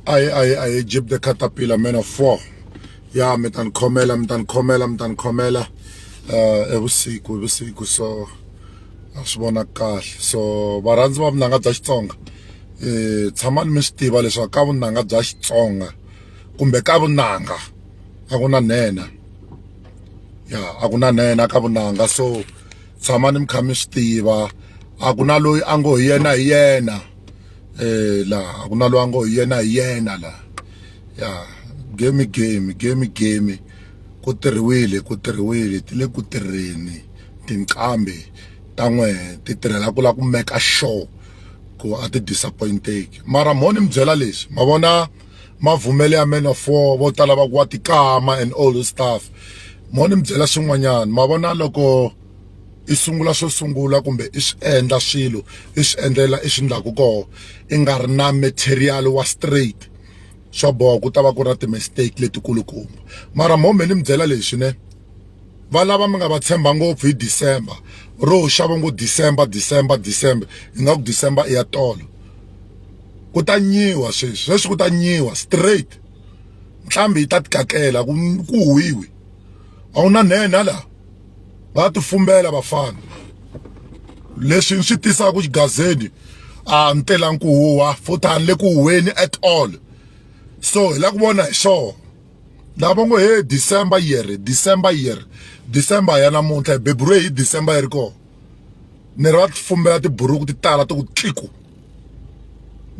aye aye aye jib the caterpillar man of four ya mi ta ni khomela mi ta ni khomela mi ta ni khomela um evusiku hi vusiku so a swi vona kahle so varhandzi va vunanga bya xitsonga um tshamani mi swi tiva leswaku ka vunanga bya xitsonga kumbe ka vunanga a ku na nhenha ya a ku na nhenha ka vunanga so tshamani mi kha mi swi tiva a ku na loyi a ngo hi yena hi yena laha a ku na lwango hi yena hi yena laha ya game game game game ku tirhiwile ku tirhiwile ti le ku tirheni tinqambi ta n'we ti tirhela ku lava ku meka sure ku a ti disappointeki mara mo ni mi byela leswi ma vona mavhumele ya man of war vo tala va ku wa tikama and all this stuff mo ni mi byela swin'wanyana ma vona loko i sungula swo sungula kumbe i swi endla swilo i swi endlela i swi endlaku koho i nga ri na material wa straight swa boha ku ta va ku ri na ti-mistake letikulukumba mara mo me ni mi byela leswi ne valava mi nga va tshemba ngopfu hi December ro xa va ngo December December December ingaku December i ya tolo ku ta nyiwa sweswi sweswi ku ta nyiwa straight ntlhambi yi ta ti kakela ku ku huhwiwi a wu na nhenha la. va tifumbela vafana leswi ni swi tisaka ku xigazeni a ni telangi ku huwa futhi a ni le ku huweni at all so hi la ku vona hi swona lava ngo he december year december year december ya namuntlha hi beburiwe hi december yi ri kona ni ri va tifumbela tiburuku ti tala ti ku tliku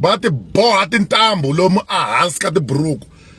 va ti boha tintambu lomu ehansi ka tiburuku